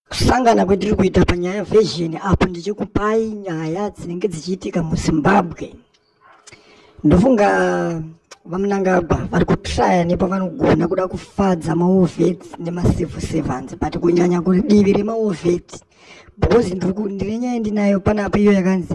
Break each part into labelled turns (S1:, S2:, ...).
S1: kusangana kwetiri kuita panyaya version apo ndichikupai nyaya dzinenge dzichiitika muzimbabwe ndofunga vamunangagwa vari kutraya nepavanogona kuda kufadza maovet nemacivil servants but kunyanya kudivi remaovet because ndine nyaya ndinayo panapa iyo yakanzi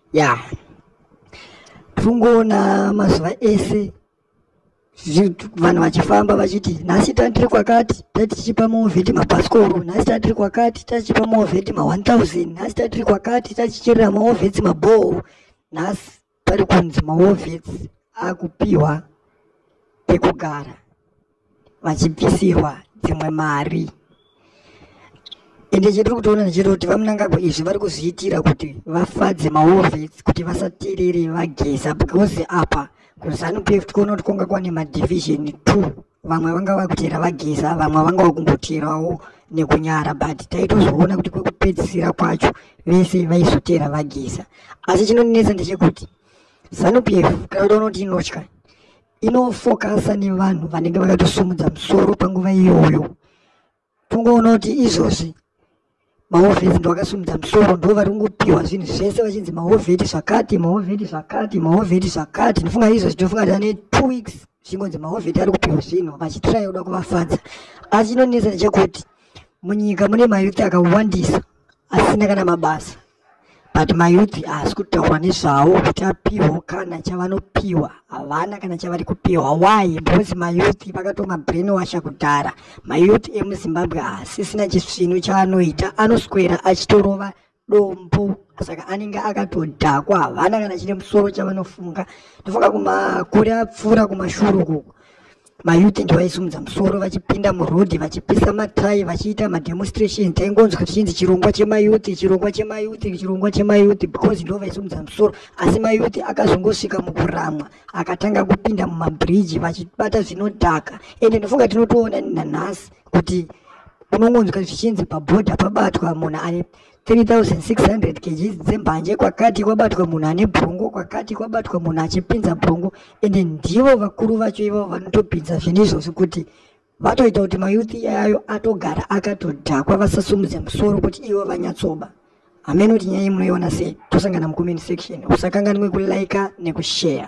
S1: ya yeah. tungoona mazuva ese vanhu vachifamba vachiti nhasi tandiri kwakati tatichipa movheti mabhasikoro nhasi tandiri kwakati tachipa movheti ma1000 nhasi tandiri kwakati tachicherera maovheti mabhoho nhasi pari kunzi maovheti akupiwa pekugara vachibvisirwa dzimwe mari ende chetiri kutoona ndechete kuti vamunangagwa izvi vari kuzviitira kuti vafadze maovets kuti vasaterere vageza because apa kuzanu pf tikuona kuti kwanga kwane madivision two vamwe vanga vakutera vageza vamwe vanga vakumboterawo nekunyara but taitozoona kuti kwekupedzisira kwacho vese vaizotera vageza asi chinonetsa ndechekuti zanu pf kana kuti unoti inotya inofokasa nevanhu vanenge vakatosumudza musoro panguva iyoyo tongoona kuti izvozvi mahovheti ndovakasumudza musoro ndo vari kungopiwa zvinhu zvese vachinzi mahovheti zvakati mahovheti zvakati mahovheti zvakati ndofunga izvozvi ndofunga tane two weeks zvingonzi mahovheti ari kupiwa zvinhu vachitiraya kuda kuvafadza asi chinonetsa ndechekuti munyika mune mayuti akawandisa asina kana mabasa but mayouth haasi kutaurwa nezvawo kuti apihwa kana chavanopiwa havana kana chavari kupiwa why because mayouth vakatoma brain washa kudhara mayouth emuzimbabwe haasisina chisvinu chaanoita anoswera achitorova dombo saka anenge akatodhakwa havana kana chine musoro chavanofunga ndofunga kumakure apfuura kumashuru kuko mayuti ndivaisumudza musoro vachipinda murodhi vachipisa matai vachiita mademonstration taingonzwa tichinzi chirongwa chemayuti chirongwa chemayuti chirongwa chemayuti because ndo vaisumudza musoro asi mayuti akazongosvika mukuramwa akatanga kupinda mumabhiriji vachibata zvinodhaka ende ndinofunga tinotoona nanhasi kuti unongonzwa zvichinzi pabhodha pabatwa munhu ane 3600 kgs dzembanje kwakati kwabatwa munhu ane brongo kwakati kwabatwa munhu achipinza brongo ende ndivo vakuru vacho ivo vanotopinza zvinhu izvozvi kuti vatoita kuti mayouth iyayo atogara akatodhakwa vasasumudze musoro kuti ivo vanyatsoba hameno kuti nyaya munoiona sei tosangana mucomment section usakanganwe kulaika nekushare